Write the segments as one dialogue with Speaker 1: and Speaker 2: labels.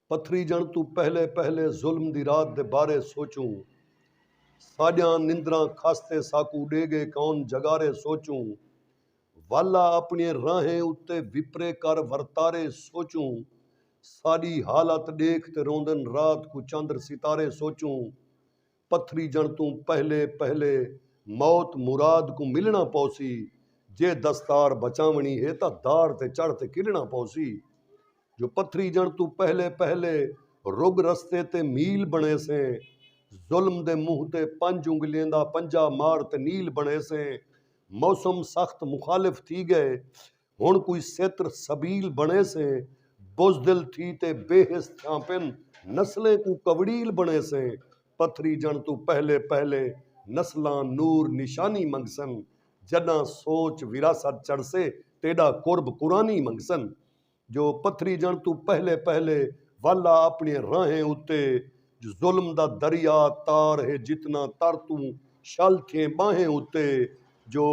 Speaker 1: پتھریجݨ توں پہلے پہلے ظلم دی رات دے بارے سوچوں ساݙیاں نندراں کھاستے ساکوں ݙے ڳئے کون جڳارے سوچوں والا اپݨیے راہیں اتے وپرے کر ورتارے سوچوں ساݙی حالت ݙیکھ تے روندن رات کوں چندر ستارے سوچوں پتھریجݨ توں پہلے پہلے موت مراد کوں ملݨا پوسی، جے دستار بچاوݨی ہے تاں دار تے چڑھ تے کھلݨا پوسی۔ جو پتھریجݨ توں پہلے پہلے رڳ رستے تے میل بݨیسیں، ظلم دے منہ تے پنج انڳلیں دا پنجا مار تے نیل بݨیسیں۔ موسم سخت مخالف تھی ڳئے، ہݨ کوئی ستر سبیل بݨیسیں بزدل تھی تے بے حس تھیاں پن نسلیں کوں کوڑیل بݨیسیں پتھریجݨ توں پہلے پہلے نسلاں نور نشانی منگسن جݙاں سوچ وراثت چڑھسے تیݙا قرب قرانی منگسن جو پتھریجݨ توں پہلے پہلے والا اپݨیاں راہیں اتے جو ظلم دا دریا تار ہے جتنا تر توں شل تھئیں ٻانہیں اتے جو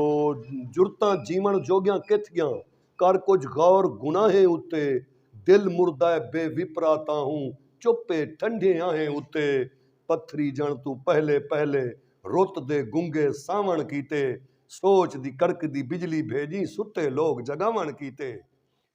Speaker 1: جرتاں جیوݨ جوڳیاں کتھ ڳیاں کر کجھ غور گناہیں اتے دل مردائے بے وپرا تاہوں چپ اے ٹھنڈھیں آہیں اتے پتھری جݨ توں پہلے پہلے رت دے گنگے ساوݨ کیتے سوچ دی کڑکدی بجلی بھیڄیں ستے لوک جڳاوݨ کیتے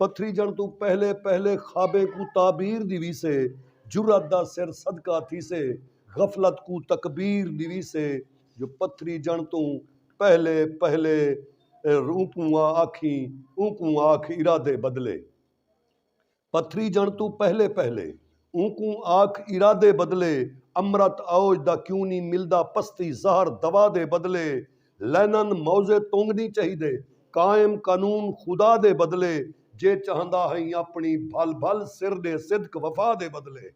Speaker 1: پتھریجݨ توں پہلے پہلے خوابیں کوں تعبیر ݙیویسے جرات دا سر صدقہ تھیسے غفلت کوں تکبیر ݙیویسے جو پتھریجݨ توں پہلے پہلے اونکوں آکھیں اونکوں آکھ ارادے بدلے پتھریجݨ توں پہلے پہلے اونکوں آکھ ارادے بدلے امرت اوج دا کیوں نی ملدا پستی زہر دوا دے بدلے لینن موضع تونگ نی چہیدے قائم قانون خدا دے بدلے جے چہندا ہئیں اپنی بھل بھل سر ڈے صدق وفا دے بدلے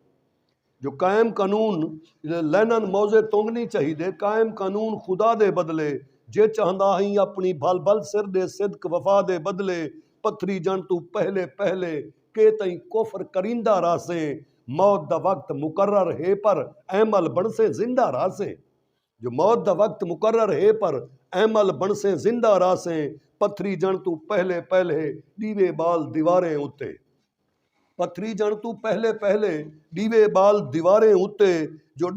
Speaker 1: جو قائم قانون لینن موضع تونگ نی چہیدے قائم قانون خدا دے بدلے جے چہندا ہئیں اپنی بھل بھل سر ڈے صدق وفا دے بدلے پتھریجنڑ توں پہلے پہلے کے تئیں کفر کریندا رہسیں موت دا وقت مقرر ہے پر ایمل بنڑسیں زندہ رہسیں۔ جو موت دا وقت مقرر ہے پر ایمل بنڑسیں زندہ رہسیں پتھریجنڑ توں پہلے پہلے ڈیوے بال دیواریں اتے پتھریجنڑ توں پہلے پہلے ڈیوے بال دیواریں اتے جو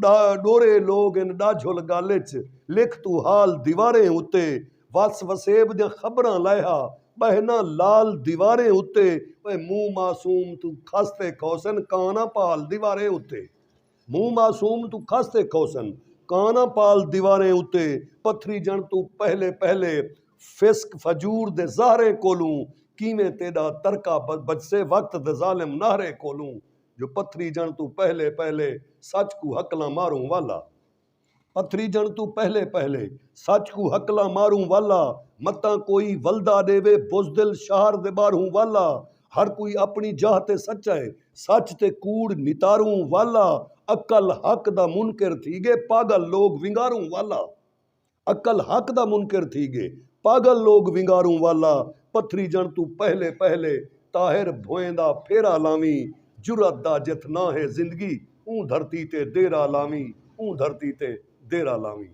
Speaker 1: ڈورے لوگ ان ڈاجھل گل اچ لکھ توں حال دیواریں اتے وس وسیب دیاں خبراں لائحہ بہناں لال دیواریں اتے اوئے موں معصوم توں کھس تے کھوسن کاناں پال دیواریں اتے۔ موں معصوم توں کھس تے کھوسن کاناں پال دیواریں اتے پتھریجنڑ توں پہلے پہلے فسق فجور دے زہریں کولوں کیویں تیڈا ترکا بچسے وقت دےظالم نہریں کولوں جو پتھریجنڑ توں پہلے پہلے سچ کوں ہکلاں ماروں والا پتھریجݨ توں پہلے پہلے سچ کوں ہکلاں ماروں والا متاں کوئی ولدا ݙیوے بزدل شہر دے ٻاہروں والا ہر کوئی اپݨی جاہ تے سچا ہے سچ تے کوڑ نتاروں والا عقل حق دا منکر تھی ڳے پاڳل لوک ونگاروں والا عقل حق دا منکر تھی ڳے پاڳل لوک ونگاروں والا پتھریجݨ توں پہلے پہلے طاہر بھوئیں دا پھیرا لاویں جرات دا جتھ ناں ہے زندگی اوں دھرتی تے دیرہ لاویں اوں دھرتی تے دیرہ لاویں۔